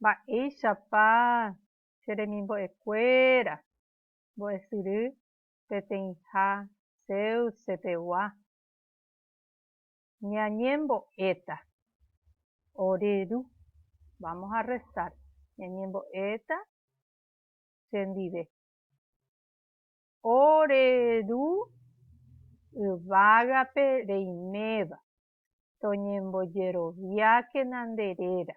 Mba'éichapa che remimbo'ekuéra mbo'esyry peteĩha Zeusse pegua? Ñañembo'éta ore ru, vamos a rezar, ñañembo'éta chendive ore ru yvágape reiméva, toñembojeroviákena nde réra,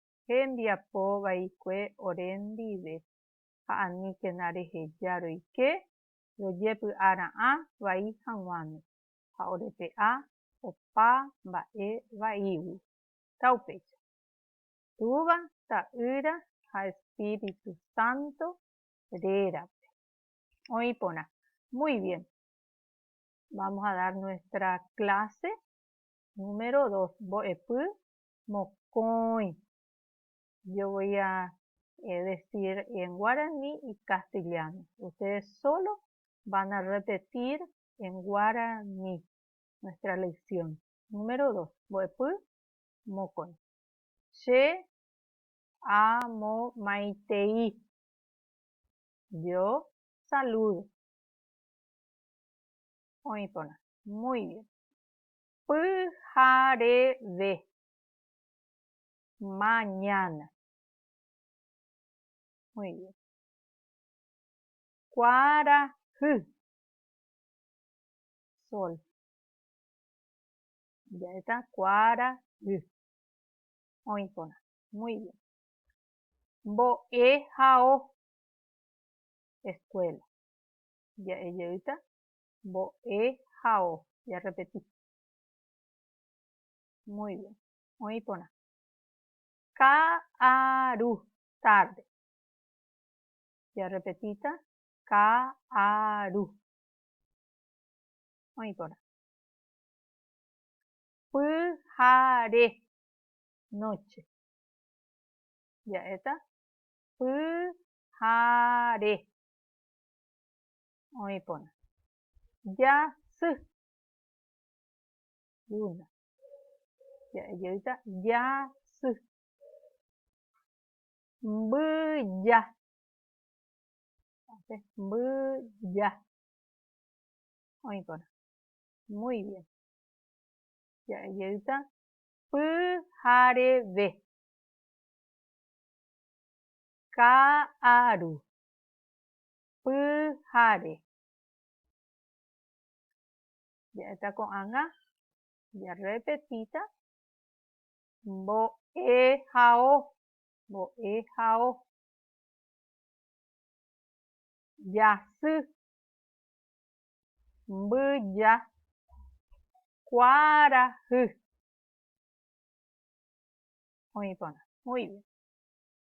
hembiapo vaikue ore ndive, ha aníkena reheja roike rojepy'a ra'ã vai haguãme, ha orepe'a opa mba'e vaígui. Ta upéicha. Túva, Ta'ýra ha Espíritu Santo rérape. Oĩ porã. Muy bien. Vamos a dar nuestra clase número dos, mbo'epy mokõi yo voi a decir en guarani y castellano ustedes solo van a repetir en guarani nuestra lección número dos mbo'epy mokõi che amomaitei yo saludo oĩ porã muy bien Pyhareve. Mañana. Muy bien. Kuarahy. Sol. Ya está. Kuarahy. Oikona. Muy bien. Mbo'ehao. Escuela. Ya está. mbo'e ha o. Jarrepeti. Muy bien. Oĩ porã. Ka'aru, tarde. Jarrepetíta. Ka'aru. Oĩ porã. Pyhare, noche. Ja'éta. Pyhare. oĩ porã. Jasy. Luna. Ja'e jeýta jasy. Mbyja. Hace mbyja. Oĩ porã. Muy bien. Ja'e jeýta pyhareve. Ka'aru. pyhare. Ja'éta ko'ág̃a jarrepetíta mbo'ehao, mbo'ehao. Jasy, mbyja, kuarahy. Oĩ porã. Muy bien.